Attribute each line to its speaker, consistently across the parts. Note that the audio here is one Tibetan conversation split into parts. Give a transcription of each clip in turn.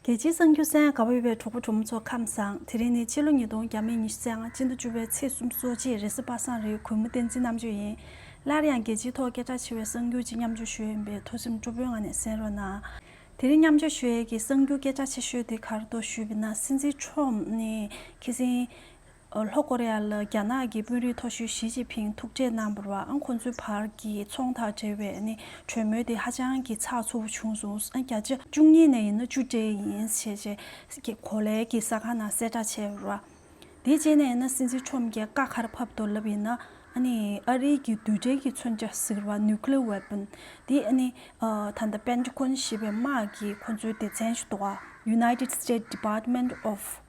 Speaker 1: རྒྱལ་སྤྱིའི་གསང་རྒྱུད་སའི་ག་བོད་པའི་གྲོགས་པོ་གྲོགས་མོ་ཚོ་ཁམས་བཟང་དེ་རིང་ནི་སྤྱི་ལོ་ཉིས་སྟོང་བརྒྱ་མེད་ཉི་ཤུ་ཚན་ང་གཅིག་མདོ་བཅུ་པའི་ཚེས་གསུམ་གཙོ་བྱས་རེས་གཟའ་པ་སངས་རིའི་གུས་མོ་བསྟན་འཛིན་རྣམ་དཔྱོད་ཡིན། སླར་ཡང་རྒྱལ་སྤྱིའི་ཐོག་སྐད་གྲགས་ཆེ་བའི་གསང་རྒྱུད་ཀྱི་མཉམ་སྤྱོད་ཞུ་ཡས་ཡིན་པའི་ཐུགས་སེམས་སྤྲོ་པོའི་ངང་ནས་གསན་རོགས་གནང། དེ་རིང་མཉམ་སྤྱོད་ཞུ་ཡས་ཀྱི་གསང་རྒྱུད་སྐད་གྲགས་ཆེ་ཤོས་དེ་གར་གཏོགས་ཞུས་པས་ན་སྲིད་འཛིན་ཁྲོམ་ནི་ཁི་སིན། ལྷོ་ཀོ་རེ་ཡ་ལ་རྒྱ་ནག་གི་དཔོན་རིགས་མཐོ་ཤོས་ཞི་ཅིན་ཕིང་ཐུག་འཕྲད་གནང་བར་བར་ཁོང་ཚོའི་བར་གྱི་ཚོང་དང་འབྲེལ་བའི་གྲོས་མོལ་དེ་ཧ་ཅང་གི་ཚགས་ཚུད་པོ་བྱུང་སོང་བརྒྱ་ཆ་བཅུ་གཉིས་ནས་ཡིན་ན་བཅུ་སྤྲད་ཡིན་ཞེས་ཆེ་གོ་ལའི་གི་ས་ཁང་ནང་གསལ་བསྒྲགས་བྱས་པར་བར་དེའི་རྗེས་ནས་ཡིན་ན་སྲིད་འཛིན་ཁྲོམ་རྒྱལ་ཀ་ཁར་ཕབ་ཏོ་ལབ་ཡིན་ན་ཨ་རིའི་གི་རྡུལ་ཕྲན་གི་མཚོན་ཆ་ཟེར་བ Nuclear Weapon དེ་ད་ལྟ Pentagon ཞེས་པའི་དམག་གི་ཁོང་ཚོའི་སྡེ་ཚན་ཞིག་ཏུ་བ United States Department of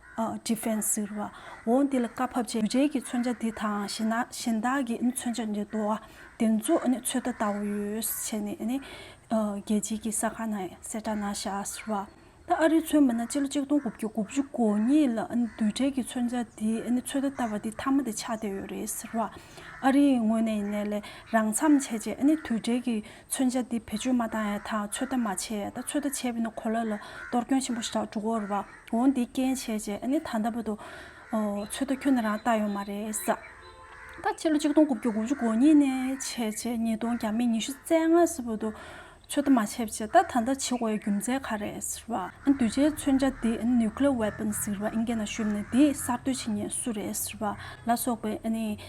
Speaker 1: Defense ཟེར་བ། འོ་འདི་ལ་བཀའ་ཕབ་བྱས། རྗེས་ཀྱི་མཚོན་ཆ་འདི་དང་གཞན་དག་གི་མཚོན་ཆ་འདི་དོ། དེ་ཚོ་ཚོད་ལྟ་ལྟ་བུ་ཡོད་བྱས་ནས་རྒྱལ་སྤྱི་གི་ས་ཁང་ན་གསལ་བསྒྲགས་གནང་ཤག་ཟེར་བ། ད་ཨ་རིའི་མཚོན་པ་ན་སྤྱི་ལོ་གཅིག་སྟོང་དགུ་བརྒྱ་དགུ་བཅུ་གོ་གཉིས་ལ་བསྡུས་གྲལ་གྱི་མཚོན་ཆ་འདི་ཚོད་ལྟ་ལྟ་བ་འདི་མཐའ་མ་དེ་ཆགས་བསྡད་ཡོད་རེད་ཟེར་བ། ཨ་རིའི་ངོས་ནས་ཡིན་ནའི་ལས་རང་མཚམས་བྱས་རྗེས་དུས་གྲལ་གྱི་མཚོན་ཆ་འདི་བེད་སྤྱོད་མ་བཏང་ཡང་ཐག་ཚོད་ལྟ་མ་བྱས་ད་ཚོད་ལྟ་བྱས་པས་ན་གོ་ལ་ལ་གཏོར་སྐྱོན་ཆེན་པོ་ཞིག་གྲགས་འགྲོ་གོ་རུ་བ་འོང་འདི་རྐྱེན་བྱས་རྗེས་ཨ་ནི་ད་ལྟ་བུ་འདུག་ཚོད་ལྟ་ཁྱོན་ནས་རང་བཏང་ཡོད་མ་རེད་ས། ད་ཕྱི་ལོ་གཅིག་སྟོང་དགུ་བརྒྱ་དགུ་བཅུ་གོ་གཉིས་ནས་བྱས་རྗེས་ཉིས་སྟོང་གྱ་མེད་ཉི་ཤུ་རྩེ་ལྔ་ས་བུ་འདུག་ཚོད་ལྟ་མ་བྱས་པ་བྱས་ད་ད་ལྟ་བྱེད་དགོས་ཡའི་རྒྱུ་མཚན་ག་རེད་ཟེར་བ། འདུས་བྱས་མཚོན་ཆ་འདི་ཨ་ནི Nuclear Weapons ཟེར་བ་ཨིན་སྐད་ནང་ཤོད་པ་ནས་འདི་གསར་གཏོད་བྱེད་ཉེན་སུ་རེད་ཟེར་བ་ལ་སོགས་པའི་ཨ་ནི་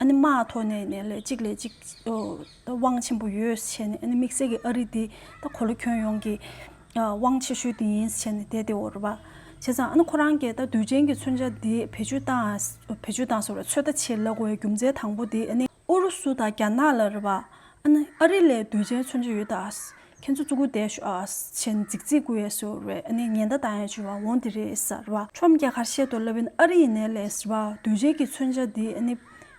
Speaker 1: ཨ་ནི་མ་ཐོ་ནས་ནས་ལས་གཅིག་ལས་གཅིག་དབང་ཆེན་པོ་ཡོད་ཟེར་བྱས་ནས་ཨ་ནི་དམིགས་བསལ་གྱི་ཨ་རི་འདི་ད་གོ་ལོ་ཁྱོད་ཡོངས་ཀྱི་དབང་ཆེ་ཤོས་འདི་ཡིན་ཟེར་བྱས་ནས་དེ་དེ་འོར་བ་བྱས་ཙང་ཨ་ནི་ཁོ་རང་གི་ད་དུས་ཆེན་གྱི་མཚོན་ཆ་འདི་བེད་སྤྱོད་བཏང་བེད་སྤྱོད་བཏང་ཟེར་བ་ཚོད་ལྟ་ཆེད་ལ་གོ་བའི་རྒྱུ་མཚན་དང་པོ་དེ་ཨ་ནི་ཨུ་རུ་སུ་དང་རྒྱ་ནག་ལ་རེད་བ་ཨ་ནི་ཨ་རི་ལས་དུས་ཆེན་མཚོན་ཆ་ཡོད་ད། ཁྱེད་ཚོ་གཙུག་དགུ་བདེ་ཆེན་རྫིག་རྫིག་དགུ་ཡས་སུ་རེད་ཨ་ནི་ཉེན་བརྡ་བཏང་ཡས་བྱོས་བ་འོང་དེ་རེད་ས་རེད་བ་ཁྲོམ་རྒྱ་གར་བཤད་དོ་ལབ་ཨིན་ཨ་རི་ཡིན་ནས་ལས་ས་རེད་བ་དུས་རྗེས་ཀྱི་མཚོན་ཆ་དེ་ཨ་ནི་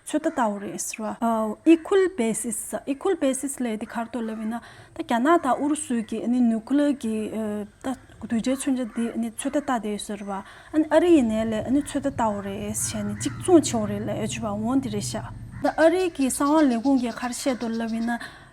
Speaker 1: ཚོད་ལྟ་ལྟ་བུ་རེད་ས་རེད་བ Equal basis ས Equal basis ལས་དེ་གར་དུ་ལབ་ཨིན་ཨ་ད་རྒྱ་ནག་དང་ཨུ་རུ་སུ་གྱི་ཨ་ནི Nuclear གྱི་ལྟ་དུས་རྗེས་མཚོན་ཆ་དེ་ཨ་ནི་ཚོད་ལྟ་ལྟ་དེ་ས་རེད་བ་ཨ་ནི་ཨ་རི་ཡིན་ནས་ལས་ཨ་ནི་ཚོད་ལྟ་ལྟ་བུ་རེད་ས་ཨ་ནི་གཅིག་མཚུངས་ཆེ་བོ་རེད་ལས་བྱོས་བ་འོང་དེ་རེད་ཤག། ཨ་རི་གྱི་གསང་བ་ལས་ཁུངས་ཀྱི་གར་བཤད་དོ་ལབ་ཨིན་ཨ་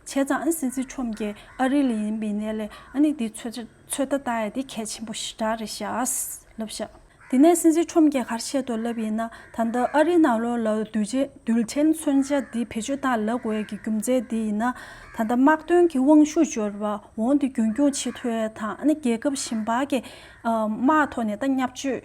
Speaker 1: བྱས་ཙང་ཨ་སི་ཛི་ཁྲོམ་གྱི་ཨ་རི་ལི་ཡིན་པའི་གནས་ལས་ཨ་ནི་དེའི་ཚོད་ཚོད་ད་ད་ཡ་དེ་གལ་ཆེན་པོ་ཞིག་གྲགས་རེད་ཤགས་ལབ་ཤགས། དེ་ནས་སི་ཛི་ཁྲོམ་གྱི་ཁར་ཤེད་དུ་ལབ་ཡིན་ན་ད་ལྟ་ཨ་རི་ནང་ལོག་ལ་དུས་ཆེན་མཚོན་ཆ་དེ་བེད་སྤྱོད་ད་ལག་འོས་ཀྱི་རྒྱུ་མཚན་དེ་ཡིན་ན་ད་ལྟ་དམག་དོན་གྱི་དབང་ཤུགས་འབྱོར་བ་འོང་དུས་རྒྱུན་སྐྱོང་ཆེ་མཐོའི་དང་ཨ་ནི་རྒྱལ་ཁབ་གཞན་པ་གི་དམག་ཐོག་ནས་ད་མཉམ་སྤྱོད།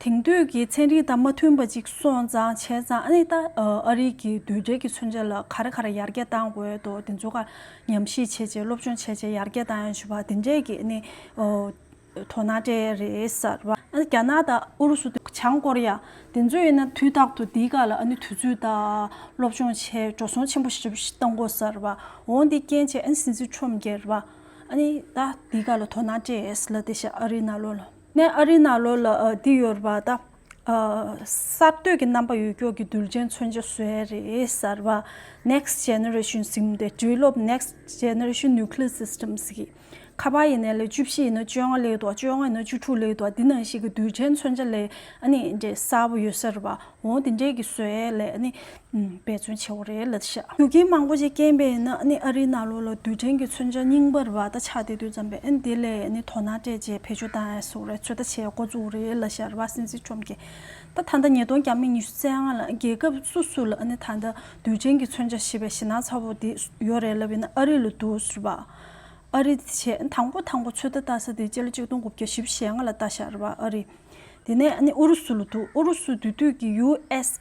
Speaker 1: དེང་དུས་ཀྱི་ཚན་རིག་དང་མ་མཐུན་པ་ཅིག་སོང་ཙང་བྱས་ཙང་ཨ་ནི་ད་ཨ་རིག་གི་དུད་སྦྲེལ་གྱི་མཚོན་ཆ་ལ་ག་རེ་ག་རེ་ཡར་རྒྱས་བཏང་འོས་དོ་དེ་ཚོ་ཀ་ཉམས་ཞིབ་བྱས་བྱས་སློབ་སྦྱོང་བྱས་བྱས་ཡར་རྒྱས་བཏང་ཡོང་ཞུ་བ་དེ་འདྲས་ཀྱི་ཨ་ནི་དོ་སྣང་སྤྲད་ཡས་རེད་ཟེར་བ། ཨ་ནི་རྒྱ་ནག་དང་ཨུ་རུ་སུ་དེ་བྱང་ཀོ་རི་ཡ་དེ་ཚོ་ཡིན་ན་དུས་རྟག་ཏུ་དེའི་ཀ་ལ་ཨ་ནི་དུས་ཚོད་དང་སློབ་སྦྱོང་བྱས་འགྲོ་སོང་ཆེན་པོ་ཞིབ་བཏང་གོ་ཟེར་བ། འོང་དེ་རྐྱེན་བྱས་ཨ་ནི་སྲིད་འཛིན་ཁྲོམ་རྒྱལ་བ་ཨ་ནི་ད་དེའི་ཀ་ལ་དོ་སྣང་སྤྲད་ཡས་ལ་དེ་བཞིན་ཨ་རིའི་ན་ལོ་ལ། ནས་ཨ་རི་ནང་ལོགས་ལ་བསྡིགས་ཡོད་པ་དང། གསར་གཏོད་ཀྱི་རྣམ་པ་ཡོད་སྐྱོར་གྱི་རྡུལ་ཕྲན་མཚོན་ཆ་བཟོས་རེད་གསར་པ Next Generation སིམ་སྟེ་དུས་སློབ Next Generation Nuclear Systems གི་ཁ་པར་ཡིན་ནའི་ལེ་བཅུ་བཞི་ཡིན་ན་བཅོ་ལྔ་ལེགས་འདུག་བཅོ་ལྔ་ཡིན་ན་བཅུ་དྲུག་ལེགས་འདུག་འདི་ནང་བཞིན་གྱི་རྡུལ་ཕྲན་མཚོན་ཆ་ལེགས་གསར་པོ་ཡོད་གསར་པ་འོ་དེ་འདྲས་ཀྱི་སྲོལ་ལས་འབད་བརྩོན་ཆེ་བོ་རེད་ལ་བཞག་རྒྱུ་རྐྱེན་མང་པོ་ཅིག་རྐྱེན་པས་ན་ཨ་རིའི་ནང་ལོགས་ལ་རྡུལ་ཕྲན་གྱི་མཚོན་ཆ་རྙིང་པར་བ་ད་ཆ་དེ་དུས་ཙམ་པས་དེ་ལས་དོ་སྣང་སྤྲད་རྗེས་བེད་སྤྱོད་བཏང་ཡང་སུ་རེད་ཚོད་ལྟ་བྱེད་འགོ་བཙུགས་རེད་ལ་བཞག་རྦ་སེན་སི་ཁྲོམ་གྱིས་ད་ད་ལྟ་ཉིས་སྟོང་བརྒྱ་མེད་ཉི་ཤུ་རྩེ་ལྔ་ལ་རྒྱལ་ཁབ་སུ་སུ་ལ་ད་ད་རྡུལ་ཕྲན་གྱི་མཚོན་ཆ་ཞེས་པའི་ཞེད་སྣང་ཚ་བོ་དེ་ཡོད་རེད་ལབ་ཡིན་ན་ཨ་རི་ལ་འདུག་རེད་པ། ཨ་རི་དེ་བྱས་དང་པོ་དང་པོ་ཚོད་ལྟ་བལྟ་ས་དེ་སྤྱི་ལོ་གཅིག་སྟོང་དགུ་བརྒྱ་བཞི་བཞེ་ལྔ་ལ་བལྟ་བཞག་རེད་པ་ཨ་རི། དེ་ནས་ཨ་ནི་ཨུ་རུ་སུ་ལ་འདུག་ཨུ་རུ་སུ་དེ་དུས་ཀྱི་ཡུ་ཨེས་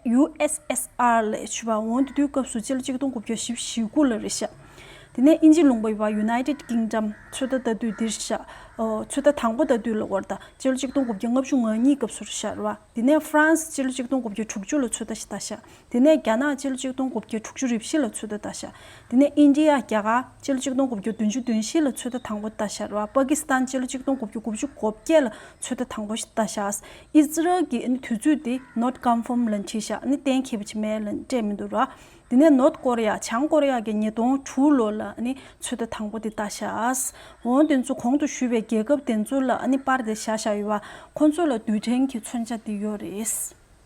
Speaker 1: ཡུ་ཨེས་ཨེས་ཨར་ལས་བྱེད་པ་འོང་དེ་དུས་སྐབས་སུ་སྤྱི་ལ་གཅིག་སྟོང་དགུ་བརྒྱ་བཞི་བཞི་དགུ་ལ་རེ་བཞག་དེ་ནས་ཨིན་ཇི་ལུང་པ་བ United Kingdom ཚོད་ལྟ་ལྟ་དུས་འདིར་བཞག་ཚོད་ལྟ་དང་པོ་ལྟ་དུས་ལ་བར་དང་སྤྱི་ལ་གཅིག་སྟོང་དགུ་བརྒྱ་ལྔ་བཅུ་ང་གཉིས་སྐབས་སུ་རེ་བཞག་རེ་བ་དེ་ནས Frans སྤྱི་ལ་གཅིག་སྟོང་དགུ་བརྒྱ་དྲུག་ཅུ་ལ་ཚོད་ལྟ་བཞག་དེ་ནས་རྒྱ་ནག་སྤྱིལ་གཅིག་སྟོང་དགུ་བརྒྱ་དྲུག་ཅུ་རེ་བཞི་ལ་ཚོད་ལྟ་ལྟ་བཞག་དེ་ནས་ཨིན་ཇི་ཡ་རྒྱ་གར་སྤྱིལ་གཅིག་སྟོང་དགུ་བརྒྱ་བདུན་ཅུ་བདུན་བཞི་ལ་ཚོད་ལྟ་དང་པོ་ལྟ་བཞག་ར་པ་ཀི་སི་ཐན་སྤྱིལ་གཅིག་སྟོང་དགུ་བརྒྱ་དགུ་བཅུ་གོ་བརྒྱད་ལ་ཚོད་ལྟ་དང་པོ་ལྟ་བཞག་ཨི་ཟི་རལ་གྱི་དུས་ཚོད་དེ Not Confirmed ལ་འཁྲིད་བཞག་གཏན་འཁེལ་བ་ཆི་མེད་ལ་སྤྲད་མི་འདུག་ར་དེ་ནས་ནོརྟ་ཀོ་རི་ཡ་བྱང་ཀོ་རི་ཡ་གྱི་ཉིས་སྟོང་དྲུག་ལོ་ལ་ཚོད་ལྟ་དང་པོ་དེ་ལྟ་བཞག་འོན་དེ་ཚོ་གོང་དུ་ཞུས་པའི་རྒྱལ་ཁབ་དེ་ཚོ་ལ་པར་དེ་བཞག་བཞག་ཡོད་པ་ཁོ་ཚོ་ལ་རྡུལ་ཕྲན་གྱི་མཚོན་ཆ་དེ་ཡོད་རེད།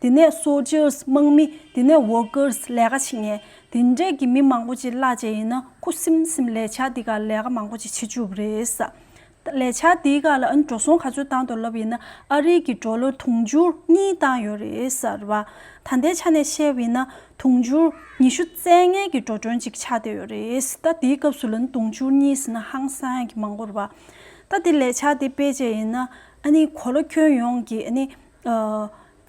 Speaker 1: དེ་ནས Soldiers དམག་མི་དེ་ནས Workers ལས་ཀ་བྱེད་ངེས། དེ་འདྲས་ཀྱི་མི་མང་པོ་ཅིག་གླ་བྱེད་ཡིན་ན་ཁུ་སིམ་སིམ་ལས་བྱ་འདི་ག་ལས་ཀ་མང་པོ་ཅིག་བྱེད་བཅུག་རེད། ལས་བྱ་འདི་ག་ལ་འགྲོ་སོང་ག་ཚོད་བཏང་འདུག་ལབ་ཡིན་ན་ཨ་རིག་གི་འགྲོ་ལོ་དུང་ཕྱུར་གཉིས་བཏང་ཡོད་རེད། ད་ལྟའི་ཆ་ནས་བཤད་ཡིན་ན་དུང་ཕྱུར་ཉི་ཤུ་རྩེ་ལྔའི་གི་འགྲོ་གྲོན་ཅིག་ཆགས་བསྡད་ཡོད་རེད། ད་དེའི་སྐབས་སུ་ལ་དུང་ཕྱུར་གཉིས་ཟེར་ན་ཧང་སང་གི་མང་པོ་རེད། ད་དེ་ལས་བྱ་དེ་སྤེལ་བྱེད་ཡིན་ན་གོ་ལ་ཁྱོན་ཡོངས་ཀྱི་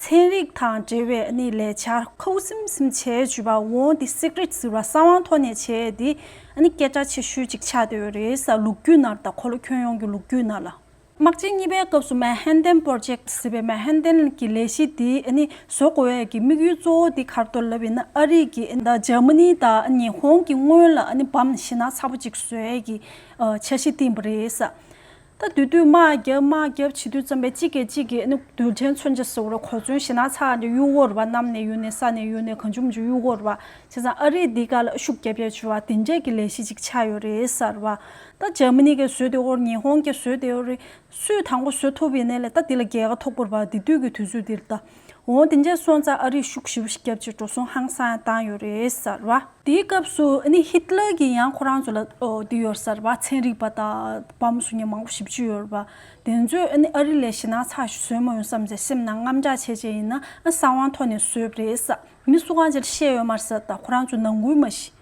Speaker 1: ཚན་རིག་དང་འབྲེལ་བའི་གནས་ལས་བྱ། ཁོ་བོ་སིམ་སིམ་བྱས་བྱུས་པ་འོ་འདི་སིག་རིད་ཟེར་བ་བསམ་དབང་ཐོག་ནས་བྱས་འདི་སྐད་གྲགས་ཆེ་ཤོས་ཅིག་ཆགས་བསྡད་ཡོད་རེད་ས་ལུག་རྒྱུད་ནར་དང་ཁོ་ལོ་ཁྱོད་ཡོང་གི་ལུག་རྒྱུད་ནར་ལ། དམག་སྤྱི་གཉིས་པའི་སྐབས་སུ་མན་ཧན་ཏན་པོར་ཇེག་ཟེར་བའི་མན་ཧན་ཏན་གྱི་ལས་གཞི་འདི་བཟོ་དགོས་ཡས་ཀྱི་དམིགས་ཡུལ་གཙོ་བོ་འདི་གར་གཏོར་ལབ་ཡིན་ན་ཨ་རིག་གི་དང་འཇར་མ་ནི་དང་ཉི་ཧོང་གི་སྔོན་ལ་བམ་ཤི་ན་ཚ་པོ་ཅིག་བཟོ་ཡས་ཀྱི་འཆར་གཞི་བཏིང་པ་རེད་ས། ད་དུས་དུས་དམག་རྒྱབ་དམག་རྒྱབ་བྱེད་དུས་བརྩམས་པའི་གཅིག་གིས་གཅིག་གིས་རྡུལ་ཕྲན་མཚོན་ཆ་ཟེར་བར་གོ་མཚོན་ཞེ་ན་ཚགས་ཀྱི་གཡུ་བོར་བ་གནམ་ནས་ཡུལ་ནས་ས་ནས་ཡུལ་ནས་གངས་ཆུང་ཆུང་གཡུ་བོར་བ་བྱས་ཙང་ཨ་རིས་འདི་ག་ལ་ཤུགས་རྒྱབ་རྒྱབ་བྱེད་བ་དེ་འདྲས་ཀྱི་ལས་གཞི་གཅིག་ཆགས་ཡོད་རེད་ཟེར་བ། ད་འཇར་མ་ནི་གིས་བཟོས་དེ་འོར་ཉི་ཧོང་གིས་བཟོས་དེ་འོར་རེད། སུས་དང་པོ་བཟོ་ཐུབ་ཡིན་ནའི་ལས་ད་འདི་ལ་རྒྱལ་ཁ་ཐོག་པོར་བ་འདི་དུས་ཀྱི་དུས་ཚོད་འདིར་ད། འོ་དེ་འདྲས་སོང་ཙང་ཨ་རིས་ཤུགས་ཞི་བ་ཞིག་བརྒྱབ་ཅེས་འགྲོ་སོང་ཧང་སང་བཏང་ཡོད་རེད་ཟེར་བ། དེའི་སྐབས་སུ་ཧིད་ལར་གྱིས་ཡང་ཁོ་རང་ཚོ་ལ་འདི་ཡོད་ཟེར་བ་ཚན་རིག་པ་དང་བ་མོ་སུ་གཉིས་མང་པོ་ཞིབ་འཇུག་ཡོད་རེད་བ། དེ་ཚོས་ཨ་རི་ལས་ཞེད་སྣང་ཚ་ཞིག་བཟོས་མ་ཡོང་བསམ་ཟེར་སེམས་ནང་རྔམ་སྐྱག་བྱས་བྱས་ཡིན་ན་ཨ་གསང་བང་ཐོག་ནས་བཟོས་པ་རེད་ཟེར་མི་སུ་གང་ཅིར་བཤད་ཡོད་མ་ཟེར་ད་ཁོ་རང་ཚོས་ནང་ཁུལ་མ་ཤེས།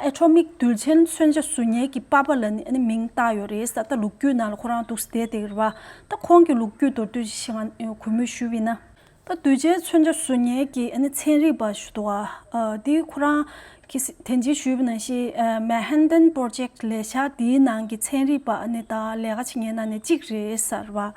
Speaker 1: ཨེ་ཁྲོ་མིག་རྡུལ་ཆེན་མཚོན་ཆ་གཟུགས་བརྙན་གྱི་པ་པ་ལ་ནི་མིང་བཏགས་ཡོད་རེད་ས་ད་ལུག་རྒྱུད་ནང་ལ་ཁོ་རང་འདུག་ཟེ་དེ་རེད་བ་ད་ཁོང་གི་ལུག་རྒྱུད་མདོར་བསྡུས་ཤིག་ང་གུས་མོས་ཞུ་བི་ན། ད་རྡུལ་ཆེན་མཚོན་ཆ་གཟུགས་བརྙན་གྱི་ཚན་རིག་པ་ཞུ་དོག་ཨ་དེ་ཁོ་རང་གི་དེ་འཇིག་ཞུས་བི་ན་ཤི Manhattan Project ལས་ཤག་དེའི་ནང་གི་ཚན་རིག་པ་ནི་ད་ལས་ཀ་བྱེད་མཁན་ན་ནི་གཅིག་རེད་ཟེར་བ།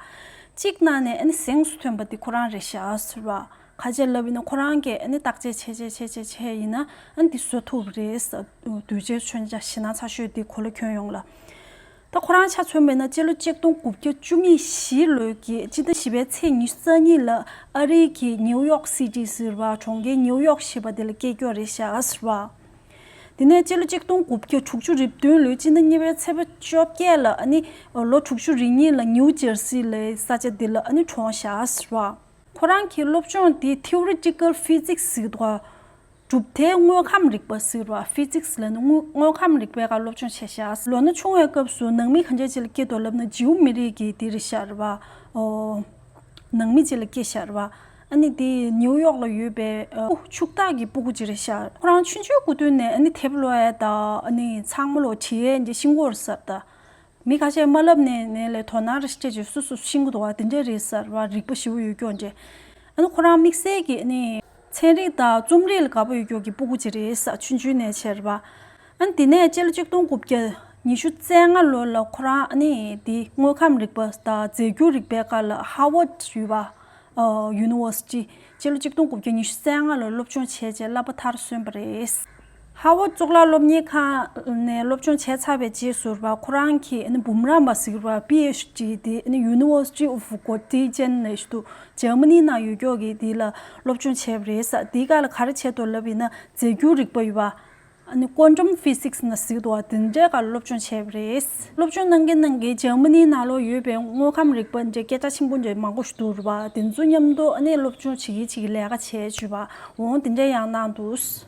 Speaker 1: གཅིག་ན་ནས་ཟེངས་སུ་ཐོན་པ་དེ་ཁོ་རང་རེད་ཤག་ཟེར་བ། ཁ་ཆད་ལབ་ཡིན་ན་ཁོ་རང་གིས་བརྟག་དཔྱད་བྱས་བྱས་བྱས་བྱས་བྱས་ཡིན་ན་འདི་བཟོ་ཐུབ་རེད། དུས་རྗེས་མཆོད་མཇའ་བྱིན་ན་ཚ་ཤོས་འདི་གོ་ལ་ཁྱོན་ཡོངས་ལ། ད་ཁོ་རང་ཆ་མཚོན་མེད་ན་སྤྱི་ལོ་གཅིག་སྟོང་དགུ་བརྒྱ་བཅུ་གཉིས་བཞི་ལོའི་གྱི་སྤྱི་ཟླ་བཞི་པའི་ཚེས་ཉི་རྩ་གཉིས་ལ་ཨ་རི་གི་ནིའུ་ཡོག་སི་ཏི་ཟེར་བ་གྲོང་ཁྱེར་ནིའུ་ཡོག་ཞེས་པ་དེ་ལ་སྐད་སྐྱོ་རེ་བཞག་ཟེར་བ། དེ་ནས་སྤྱི་ལོ་གཅིག་སྟོང་དགུ་བརྒྱ་དྲུག་ཅུ་རེབ་བདུན་ལོའི་སྤྱི་ཟླ་གཉིས་པའི་ཚེས་བཅོ་བརྒྱད་ལ་ལོ་དྲུག་ཅུ་རེ་གཉིས་ལ་ནིའུ་ཇེར་སི་ལའི་ས་ཆ་འདི་ལ་གྲོངས་བཞག་ཟེར་བ། ཁོ་རང་གི་སློབ་སྦྱོང་དེ Theoretical Physics ཟེར་བ། གྲུབ་མཐའི་དངོས་ཁམས་རིག་པ་ཟེར་བ Physics ལ་ནི་དངོས་ཁམས་རིག་པའི་ཁར་སློབ་སྦྱོང་བྱས་ཤག་ལོ་ན་ཆུང་བའི་སྐབས་སུ་ནང་མི་གང་ཅག་ཅི་ལ་སྐྱེ་འདོད་ལབ་ན་ཇིའུ་མི་རིགས་ཀྱི་དེ་རི་ཤར་བ། ནང་མི་ཅི་ལ་སྐྱེ་ཤར་བ། ཨ་ནི་དེ་ནིའུ་ཡོག་ལ་ཡོད་པའི་ཕྱུག་བདག་གི་སྤུ་གུ་ཅི་རི་ཤར་ཁོ་རང་ཆུང་ཆུང་གུ་དོན་ནས་ཨ་ནི་ཐེབ་ལོའི་ད་ཨ་ནི་ཚང་མ་ལོ་ཁྲིའི་འདི་ཤིང་སྒོར་གསར་ད་མི་ཁ་ཤས་མ་ལབ་ནས་ནས་ལས་དོ་ནར་ཁྱེད་ཀྱིས་སུ་སུ་ཤིང་གུ་དོ་བ་དེ་འདྲས་རེད་ཟེར་བ་རིག་པ་ཞི་བོ་ཡོད་ཀྱོ་འདྲས་ཨ་ཁོ་རང་དམིགས་བསལ་གྱི་ནི་ཚན་རིག་དང་རྩོམ་རིག་ལ་དགའ་པོ་ཡོད་ཀྱོ་གི་སྤུ་གུ་ཅིག་རེད་ས་ཆུན་ཆུན་ནས་ཁྱེར་བ་ཨ་དེ་ནས་སྤྱི་ལོ་གཅིག་སྟོང་དགུ་བརྒྱ་ཉི་ཤུ་རྩེ་ལྔ་ལོ་ལ་ཁོ་རང་ནི་དེ་དངོས་ཁམས་རིག་པ་དང་རྫས་འགྱུར་རིག་པའི་ཀར་ལ་ཧར་བོད་ཡུལ་བ University སྤྱི་ལོ་གཅིག་སྟོང་དགུ་བརྒྱ་ཉི་ཤུ་རྩེ་ལྔ་ལོར་སློབ་སྦྱོང་བྱས་རྗེས་གླ་པ་མཐར་སོན་པ་རེད། ཧྭ་བོ་གཙུག་ལག་སློབ་གཉེར་ཁང་ནས་སློབ་སྦྱོང་བྱས་ཚར་བའི་རྗེས་ཟུར་པ་ཁོ་རང་གིས་འབུམ་རམས་པ་ཟེར་བ PhD དེ University of Göttingen ནས་འདུག་ཇར་མ་ནི་ནང་ཡོད་ཀྱོག་གིས་དེ་ལ་སློབ་སྦྱོང་བྱས་པ་རེད་ས་དེ་ག་ལ་ག་རེ་བྱས་འདུག་ལབ་ཡིན་ན་རྫས་འགྱུར་རིག་པ་ཡོད་པ། Quantum Physics ནས་ཟེར་འདུག་དེ་འདྲའི་ག་ལ་སློབ་སྦྱོང་བྱས་པ་རེད། སློབ་སྦྱོང་གནང་གིན་གནང་གིན་ཇར་མ་ནི་ནང་ལོག་ཡོད་པའི་དངོས་ཁམས་རིག་པ་འདྲའི་སྐད་ཆ་ཆེན་པོ་འདྲ་མང་པོ་ཞིག་འདུག་རུ་བ་དེ་ཚོ་མཉམ་དུ་སློབ་སྦྱོང་བྱེད་གིན་བྱེད་གིན་ལས་ཀ་བྱས་བྱས་པ་འོང་དེ་འདྲའི་ཡང་གནང་འདུག།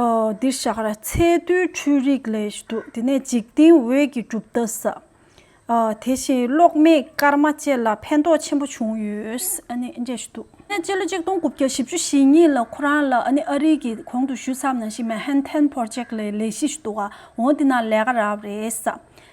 Speaker 1: འདིར་བཞག་ར་ཚའི་རྡུལ་འཕྲུལ་རིགས་ལས་ཞུ་དུག་དེ་ནས་འཇིག་རྟེན་འོད་ཀྱི་གྲུབ་མཐའ་ས། དེ་བཞིན་གློག་མེ་སྐར་མ་བཅས་ལ་ཕན་ཐོགས་ཆེན་པོ་བྱུང་ཡོད། ཅེས་ཞུ་དུག། སྤྱི་ལོ་ཆིག་སྟོང་དགུ་བརྒྱ་བཞི་བཅུ་ཞེ་གཉིས་ལ་ཁོ་རང་ལ་ཨ་རིག་གི་གོང་དུ་བཞུད་མཚམས་ནང་བཞིན་མེ་ཧན་ཐན་ཕོར་ཅེག་ལའི་ལས་གཞི་ཞུ་དུག་ཨ་འོ་འདི་ན་ལས་ཀ་རག་རེད།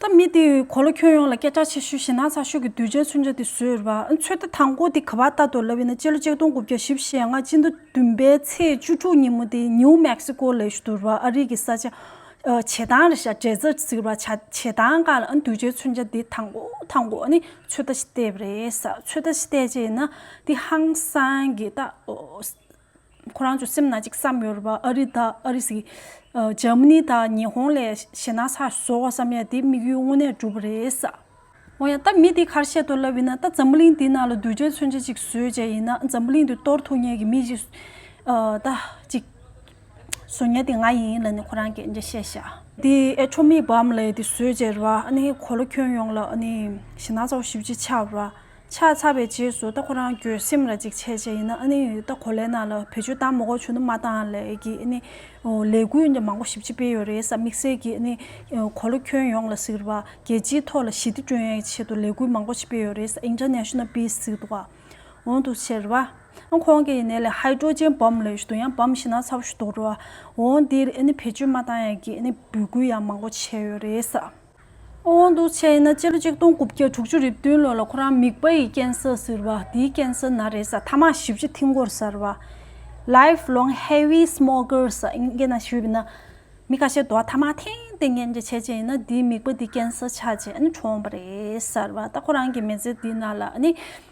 Speaker 1: ད་མི་དེས་གོ་ལོ་ཁྱོད་ཡོང་ལ་སྐད་ཆ་ཆེ་ཤོས་ཞེ་ན་ཚ་ཤོས་ཀྱི་དུས་ཆེན་ཚུན་ཆ་དེ་ཟོས་ར་ཚོད་ལྟ་དང་པོ་དེ་ག་བ་ལྟ་དོ་ལབ་ཡིན་ན་སྤྱི་ལོ་གཅིག་སྟོང་དགུ་བརྒྱ་བཞི་བཞི་ཡས་ལྔ་སྤྱི་མདོ་བདུན་པའི་ཚེས་བཅུ་དྲུག་ཉིན་མོ་དེ་ཉིའུ་མེག་སི་ཀོ་ལས་ཞུ་བ་ཨ་རིག་གི་ས་ཆ་བྱེ་ཐང་རེད་ཤག་འབྲས་རྩ་ཟེར་བ་བྱེ་ཐང་ག་ལ་དུས་ཆེན་ཚུན་ཆ་དེ་དང་པོ་དང་པོ་ནི་ཚོད་ལྟ་བྱེད་ཏེ་རེད་ས་ཚོད་ལྟ་བྱེད་ཏེ་ཅེ་ན་དེ་ཧང་སང་གི་ཏ། ཁོ་རང་ཚོའི་སེམས་ན་གཅིག་བསམ་ཡོད་རེད་པ་ཨ་རི་དང་ཨ་རི་ཟིག་འཇར་མ་ནི་དང་ཉི་ཧོང་ལས་ཞེ་སྣང་སར་བཟོ་བ་བསམ་ཡས་དེ་དམིགས་ཡུལ་དངོས་གནས་འགྲུབ་རེད། འོ་ཡང་ད་མི་དེ་ཁར་བཤད་དོ་ལབ་ཡིན་ན་ད་འཛམ་བུ་གླིང་འདི་ནང་ལ་གདུལ་བྱའི་མཚོན་ཆ་གཅིག་བཟོས་བྱས་ཡིན་ན་འཛམ་བུ་གླིང་འདི་གཏོར་ཐུག་ཉེས་ཀྱི་མི་གཅིག་ད་གཅིག་བཟོ་ཉེས་དེ་ང་ཡིན་ལ་ནི་ཁོ་རང་གིས་འདྲེ་བཤད་བཞག། དེ་ཨེ་ཆོ་མིག་བམ་ལས་དེ་བཟོས་བྱས་རེད་པ་ཨ་ནི་གོ་ལ་ཁྱོན་ཡོངས་ལ་ཨ་ནི་ཞེ་སྣང་ཚ་བོ་ཞིབ་ཅིག་ཆགས་རེད་པ། ཕྱག་འཚལ་བའི་རྗེས་སུ་ལྟ་ཁོ་རང་གྱོད་སེམས་ལ་འཇིགས་བྱེད་ཅན་ཡིན་ན་ལྟ་ཁོ་ལས་ན་ལ་བེད་སྤྱོད་དང་མོ་གོ་ཆུ་ནུ་མ་དང་ལས་ཀྱི་ལས་འགུལ་མང་པོ་ཞིབ་ཅིག་སྤེལ་ཡོད་རེད་ས་དམིགས་བསལ་གྱི་གོ་ལོ་ཁྱོན་ཡོངས་ལ་ཟེར་བ་རྒྱལ་སྤྱིའི་ཐོག་ལ་ཞི་བདེ་བསྐྲུན་ཡའི་ཆེད་དུ་ལས་འགུལ་མང་པོ་ཞིག་སྤེལ་ཡོད་རེད་ས International Peace ཟེར་བ་འོང་དུ་ཟེར་བ་ཁོང་གིས་ནས་ལས་ཧཱི་ཀྲོ་ཇན་བོམ་ལས་ཞུ་དུ་ཡང་བོམ་ཤི་ན་ཚ་བོ་ཞུ་དུ་རུ་འོང་འདིར་བེད་སྤྱོད་མ་དང་ཡའི་གི་འབོད་སྐུལ་ཡང་མང་པོ་བྱས་ཡོད་རེད་ས། དབང་དུ་བྱས་ན་སྤྱི་ལོ་ཆིག་སྟོང་དགུ་བརྒྱ་དྲུག་ཅུ་རེ་བདུན་ལོ་ལ་ཁོ་རང་མིག་པ་ཡི་རྐྱེན་ས་ཟིར་བ་དེའི་རྐྱེན་ས་ན་རེས་གཟའ་ཐ་མག་བཞི་བཅུ་ཐིང་གོར་ཟར་བ། Life Long Heavy Smokers། ཨིན་སྐད་ན་ཞུས་པ་ན། མི་ཁ་ཤས་དུ་བ་ཐ་མག་ཐེངས་ཐེངས་མཁན་གྱི་བྱས་རྗེས་ཡིན་ན་དེའི་མིག་པ་དེའི་རྐྱེན་ས་ཆགས་རྗེས་ཨ་ནི་གྲོངས་པ་རེད་ཟར་བ་ད་ཁོ་རང་གི་མེ་ཙི་དེའི་ནང་ལ་ཨ་ནི་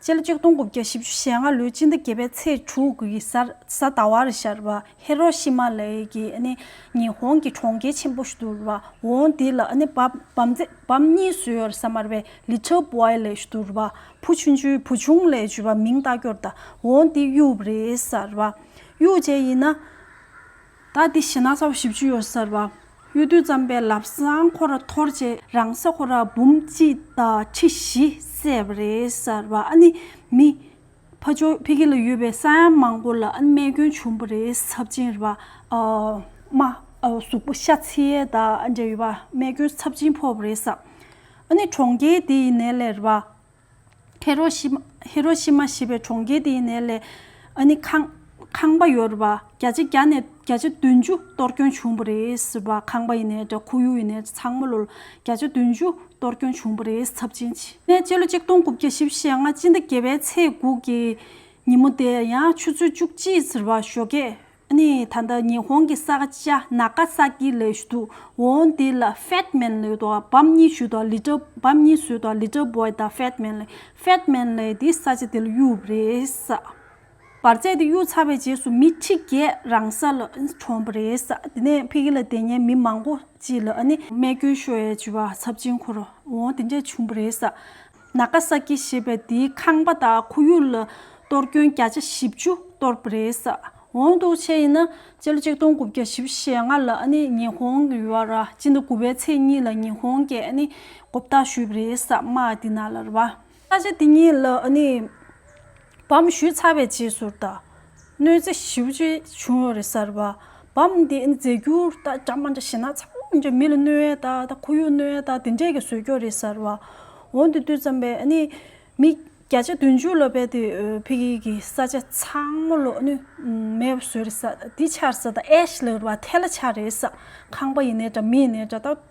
Speaker 1: སྤྱི་ལོ་ཆིག་སྟོང་དགུ་བརྒྱ་བཞི་བཅུ་ཞེ་ལྔ་ལོའི་སྤྱི་ཟླ་བརྒྱད་པའི་ཚེས་དྲུག་གི་གཟའ་ཟླ་བར་ཤར་བ་ཧེ་རོ་ཤི་མ་ལའི་གི་ཉི་ཧོང་གི་གྲོང་ཁྱེར་ཆེན་པོ་ཞུ་བ་ཝོང་དེ་ལ་བམ་གཉིས་བཟོས་ཡོད་ས་མར་བའི་ལི་ཐིལ་པོའི་ལས་ཞུ་བ་བུ་ཆུང་ཆུའི་བུ་ཆུང་ལས་ཞུ་བ་མིང་བཏགས་སྐྱོར་ད་ཝོང་དེ་གཡུ་བརེ་ས་ར་གཡུ་བཅས་ཡིན་ན། ད་དེ་བཞི་ན་ས་བ་བཞི་བཅུ་ཡོད་གསར་བ། གཡུ་རྡུལ་ཙམ་པའི་ལབ་སྲང་ཁོ་ར་འཐོར་རྗེས་རང་ས་ཁོ་ར་འབུམ་གཅིག་དང་ཁྲི་བཞི་བསད་པ་རེད་གསར་བ་ཨ་ནི་མི། ཕ་ཇོ་ཕི་ཁི་ལ་ཡོད་པའི་ས་ཡང་མང་པོ་ལ་རྨས་སྐྱོན་བྱུང་པ་རེད་ཚབས་ཆེན་རེད་པདྨ་གཟུགས་པོ་ཤ་ཚི་ཡའི་ད་འབྲེལ་ཡོད་པ་རྨས་སྐྱོན་ཚབས་ཆེན་ཕོག་པ་རེད་གསར་བ་ཨ་ནི་གྲོང་ཁྱེར་དེ་ཡི་ནས་ལས་རེད་པ། ཧེ་རོ་ཤི་ཧེ་རོ་ཤི་མ་ཞེས་པའི་གྲོང་ཁྱེར་དེའི་ནས་ལས་ཨ་ནི་ཁང་ཁང་པ་ཡོད་རེད་པ་བརྒྱ་ཆ་བརྒྱ་ནས་བརྒྱ་ཆ་བདུན་ཅུ་གཏོར་སྐྱོན་བྱུང་བ་རེད་ཟེར་བ་ཁང་པ་ཡི་ནས་དྲ་ཁུ་ཡུ་ཡི་ནས་ཚང་མ་ལོ་ལོ་བརྒྱ་ཆ་བདུན་ཅུ་གཏོར་སྐྱོན་བྱུང་བ་རེད་ཚབས་ཆེན་ཆེ། ནས་སྤྱི་ལོ་གཅིག་སྟོང་དགུ་བརྒྱ་བཞི་བཞི་ལྔ་སྤྱི་ཟླ་བརྒྱད་པའི་ཚེས་དགུ་གི་ཉིན་མོ་དེ་ཡང་ཆུ་ཚོད་བཅུ་གཅིག་ཟེར་བ་ཞོ་སྐད་ནས་ད་ལྟ་ཉི་ཧོང་གི་ས་ཆ་ནཱ་ག་སཱ་ཀི་ལས་ཞུ་དུ་འོང་དེ་ལ་ཧྥེད་མེན་ལེ་དང་བམ་གཉིས་ཞུ་དང་ལི་ཏྲི་བམ་གཉིས་ཞུ་དང་ལི་ཏྲི་བོད་དང་ཧྥེད་མེན་ལེ་ཧྥེད་མེན་ལེ་དེ་ས་ཆ་དེ་ལ་གཡུག་པ་རེད། བར་ཚད་དེ་གཡུག་ཚར་བའི་རྗེས་སུ་མི་ཁྲི་བརྒྱད་རང་ས་ལ་གྲོངས་པ་རེད། དེ་ནས་ཕི་ཁི་ལ་དེ་ཉིན་མི་མང་པོ་གཅིག་ལ་རྨས་སྐྱོན་ཤོས་ཡོད་ཅེས་པ་ཚབས་ཆེན་འཁོར་འོང་དེ་འདྲས་བྱུང་བ་རེད། ན་ག་ས་ཀི་ཞེས་པའི་དེའི་ཁང་པ་དང་ཁོར་ཡུག་ལ་གཏོར་སྐྱོན་བརྒྱ་ཆ་བཞི་བཅུ་གཏོར་བ་རེད། འོང་འདུག་ཆེད་ཡིན་ན་སྤྱི་ལོ་ཆིག་སྟོང་དགུ་བརྒྱ་བཞི་ཞེ་ལྔ་ལ་ཉི་ཧོང་གི་ཡུལ་བ་ཅིན་ནི་དགུ་བའི་ཚེས་གཉིས་ལ་ཉི་ཧོང་གི་གོ་བརྡ་ཞུས་པ་རེད། མ་དེ་ན་ལར་བ། ས་ཆ་དེ་གཉིས་ལ། བམ་བཞུས་ཚར་བའི་རྗེས་སུ་བལྟ། གནོད་འཚེ་ཞི་བ་ཅི་བྱུང་ཡོད་རེད་གསར་བ། བམ་འདི་མཛད་རྒྱུ་ད་གྲ་མ་འདྲ་ཞེ་ན་ཚང་མ་འདྲ་མི་ལ་གནོད་ཡས་དག་དང་ཁོར་ཡུག་གནོད་ཡས་དག་དེ་འདྲས་ཀྱི་བཟོས་ཀྱོག་རེད་གསར་བ། འོན་ཏེ་ལྟོས་ཙམ་པས་ནི་མི་བརྒྱ་ཆ་བདུན་ཅུ་ལ་བལྟས་ཏེ་བྷི་གྷིས་ཀྱི་ས་ཆ་ཚང་མ་ལོག་ནུས་མེད་པ་བཟོས་རེད་གསར་བ། འདི་ཆར་ས་དང་ཨེ་ཤི་ལེ་བ་ཐེ་ལ་ཆ་རེད་གསར་ཁང་པ་ཡིན་ནས་འདྲ་མི་ཡིན་ནས་འདྲ་ད།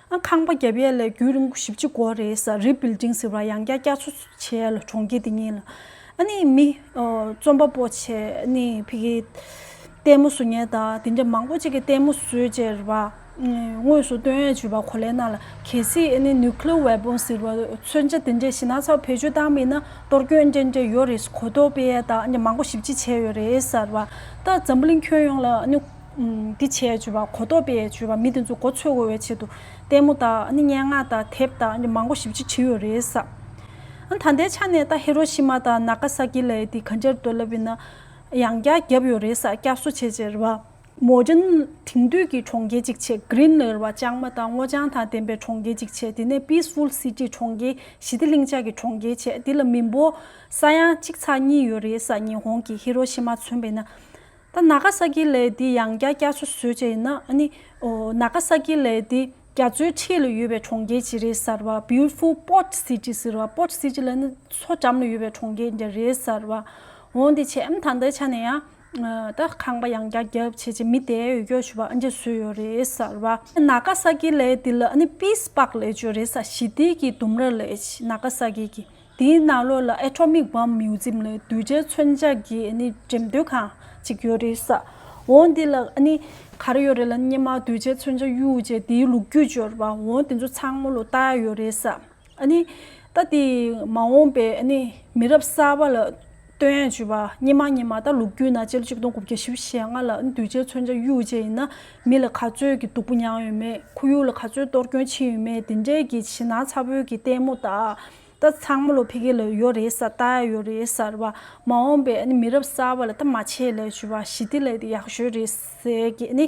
Speaker 1: ཨ་ཁང་པ་བརྒྱབ་ཡས་ལས་རྒྱུད་རིམ་བཞི་བཅུ་གོ་རེད་ས་རིབ་བིལ་ཏིང་ཟེར་བ་ཡང་བསྐྱར་བསྐྱར་ཚུ་ཚུ་བྱས་ཡས་ལ་གྲོང་ཁྱེར་དེ་གཉིས་ལ་ཨ་ནི་མི་རྩོམ་པ་པོ་ཆེ་ནི་ཕི་གི་ལྟད་མོ་བཟོ་ཉེ་ད་དེ་འདྲ་མང་པོ་ཅིག་གི་ལྟད་མོ་བཟོས་ཅེར་བ་དངོས་སུ་སྟོན་ཡས་བྱུས་པ་གོ་ལས་ན་ལ་གལ་སྲིད་ཨ་ནི་ནུ་ཀི་ལོ་བས་པོང་ཟེར་བ་མཚོན་ཆ་དེ་འདྲས་ཞི་ན་ཚ་བོ་བེད་སྤྱོད་བཏང་མེད་ན་གཏོར་སྐྱོན་འདྲས་འདྲས་ཡོ་རེད་གོ་ཏོ་པེ་ཡས་ད་འདྲ་མང་པོ་ཞིབ་ཅིག་བྱས་ཡོ་རེད་ཟེར་བ་ད་འཛམ་བུ་གླིང་ཁྱོན་ཡོངས་ལ་ཨ་ནི། འདི་བྱས་བྱས་པ་གོ་ལྡོག་པས་བྱས་པ་མི་དེ་ཚོ་གོ་ཆོད་གོ་བའི་ཆེད་དུ་ལྟད་མོ་དང་སྙན་ངག་དང་དེབ་དང་མང་པོ་ཞིབ་ཅིག་བྲིས་ཡོད་རེད་ས། ད་ལྟའི་ཆ་ནས་ད་ཧེ་རོ་ཤི་མ་དང་ན་ག་ས་ཀི་ལའི་དེ་ག་འདྲར་འདོད་ལབ་ཡོད་ན་ཡང་བསྐྱར་བརྒྱབ་ཡོད་རེད་ས་བསྐྱར་གསོ་བྱས་བྱས་རེད་བ། མོ་ཇོ་ནི་དེང་དུས་ཀྱི་གྲོང་ཁྱེར་ཅིག་བྱས Green ལེ་རེད་བ་ལྕང་མ་དང་སྔོ་ལྗང་དང་ལྡན་པའི་གྲོང་ཁྱེར་ཅིག་བྱས་དེ་ནས Peaceful City གྲོང་ཁྱེར་ཞི་བདེ་ལྷིང་འཇགས་ཀྱི་གྲོང་ཁྱེར་བྱས་དེ་ལ་མི་འབོར་ས་ཡང་གཅིག་ཚགས་གཉིས་ཡོད་རེད་ས་ཉི་ཧོང་གི་ཧི་རོ་ཤི་མ་མཚོན་པས་ན་ད་ན་ག་ས་ཀི་ལའི་དེ་ཡང་བརྒྱ་བརྒྱ་བཟོ་བཟོས་བྱས་ཡིན་ན་ནི། འོ་ན་ག་ས་ཀི་ལའི་དེ་རྒྱ་མཚོའི་འཁྲིས་ལ་ཡོད་པའི་གྲོང་ཁྱེར་ཇི་རེད་ཟེར་བ Beautiful Port City ཟེར་བ Port City ལ་ནི་མཚོ་འགྲམ་ལ་ཡོད་པའི་གྲོང་ཁྱེར་འདྲ་རེད་ཟེར་བ། འོན་ཏེ་བྱས་ད་ལྟའི་ཆ་ནས་ཡང། ད་ཁང་པ་ཡང་བརྒྱ་བརྒྱ་བྱས་བྱས་མི་དེ་ཡོད་རྒྱུ་བྱུས་པ་ཨ་འདྲས་བཟོས་ཡོད་རེད་ཟེར་བ། ན་ག་ས་ཀི་ལའི་དེ་ལ་ནི Peace Park ལས་བརྗོད་རེད་ས་ཞི་བདེ་ཀི་ལྡུམ་ར་ལས་ན་ག་ས་ཀི་ཀི། དེའི་ནང་ལོགས་ལ་ཨེ་ཁྲོ་མིག་བམ་མིའུ་ཛིམ་ལས་གདུལ་བྱའི་མཚོན་ཆ་གྱི་འགྲེམས་སྟོན་ཁང་ཅིག་ཡོད་རེད་ས་འོ་འདི་ལ་ག་རེ་ཡོད་རེད་ལ་སྙེ་མ་གདུལ་བྱའི་མཚོན་ཆ་གཡུ་བྱས་དེའི་ལུགས་རྒྱུས་སྦྱོར་བ་འོ་དེ་ཚོ་ཚང་མ་ལོ་ལྟ་ཡོད་རེད་ས་ཨ་ནི་ད་དེ་མ་འོངས་པའི་མི་རབས་གསར་བ་ལ། སྟོན་ཡས་བཅུ་པ་སྙེ་མ་སྙེ་མ་ད་ལུག་རྒྱུད་ན་ཅལ་གཅིག་སྟོང་དགུ་བརྒྱ་ཞེ་བཞི་ཞེ་ལྔ་ལ་འདུས་བྱས་མཚོན་ཆ་གཡུ་བཅས་ཡིན་ན་མི་ལ་ག་ཚོད་ཀྱི་སྡུག་པོ་མྱངས་ཡོད་མེད་ཁོ་ཡུག་ལ་ག་ཚོད་གཏོར་སྐྱོན་ཕྱིན་ཡོད་མེད་དེ་འདྲས་ཀྱི་བྱིན་ན་ཚ་བོད་ཀྱི་ལྟད་མོ་ད་ད་ཚང་མ་ལོ་ཕི་གེ་ལ་ཡོད་རེད་ས་ད་ཡོད་རེད་སར་བ་མ་འོངས་པའི་མི་རབས་གསར་བ་ལ་ད་མ་ཆེ་ལས་བཅུ་པ་ཞི་བདེ་ལས་ཡག་ཤོས་རེད་ཟེར་གྱི་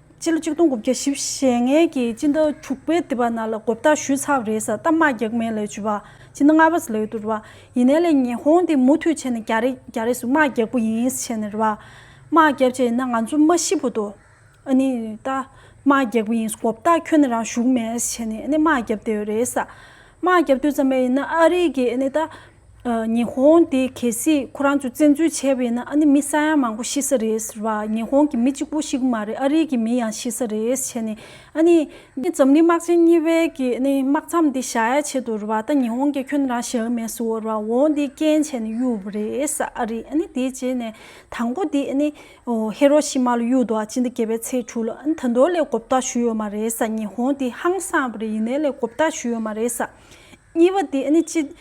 Speaker 1: སྤྱི་ལོ་ཆིག་སྟོང་དགུ་བརྒྱ་བཞི་ཞེ་ལྔའི་ཀྱི་སྤྱི་ཟླ་དྲུག་པའི་དེ་བ་ན་ལ་གོ་བརྡ་ཞུས་ཚགས་རེད་ས་ཏམ་མ་རྒྱག་མེད་ལས་བྱུས་བ་སྤྱི་ཟླ་ལྔ་བ་ས་ལས་ཡོད་དུ་རེད་བ་ཡིན་ནའི་ལས་ཉེ་ཧོང་དེ་མུ་མཐུད་བྱས་ནས་རྒྱ་རེ་རྒྱ་རེ་སུ་མ་རྒྱག་པོ་ཡིན་ས་བྱས་ནས་རེད་བ་མ་རྒྱབ་བྱས་ཡིན་ན་ང་ཚོ་མ་ཤི་བོ་དོ་ཨ་ནི་ད་མ་རྒྱག་པོ་ཡིན་གོ་བརྡ་ཁྱོད་ནས་རང་བཞུགས་མེད་ས་བྱས་ནས་ཨ་ནི་མ་རྒྱབ་བསྡད་ཡོད་རེད་ས་མ་རྒྱབ་དུས་ཙམ་མས་ཡིན་ན་ཨ་རིག་གི་ཨ་ནི་ད་ཉི་ཧོང་དེ་གལ་སྲིད་ཁོ་རང་ཚོས་བཙན་འཛུལ་བྱས་པ་ཡིན་ན་ཨ་ནི་མི་ས་ཡ་མང་པོ་ཤི་ས་རེད་ཟེར་བ་ཉི་ཧོང་གི་མི་གཅིག་པོ་ཞིག་མ་རེད་ཨ་རིའི་གི་མི་ཡང་ཤི་ས་རེད་བྱས་ནས་ཨ་ནི། འཛམ་གླིང་དམག་ཆེན་གཉིས་པའི་གི་ཨ་ནི་དམག་མཚམས་དེ་བཞག་ཡ་ཆེད་དུ་རེད་བ་ད་ཉི་ཧོང་གི་ཁྱོད་རང་ཞེ་འུ་མེད་ཟེར་བ་རེད་བ་འོང་དེ་རྐྱེན་བྱས་ནས་གཡུག་པ་རེད་ས་ཨ་རིས་ཨ་ནི་དེ་རྗེས་ནས་དང་པོ་དེ་ཨ་ནི་ཧེ་རོ་ཤི་མ་ལ་གཡུག་འདུག་ཨ་ཅི་འདི་བརྒྱད་པའི་ཚེས་དྲུག་ལ་ཨ་ནི་ད་དུང་ལས་གོ་བརྟག་ཞུས་ཡོད་མ་རེད་ས་ཉི་ཧོང་དེ་ཧང་སངས་པ་རེད་ཡིན་ནའི་ལས་གོ་བརྟག་ཞུས་ཡོད་མ་རེད་ས་གཉིས་པ་དེ་ཨ་ནི་ཅི།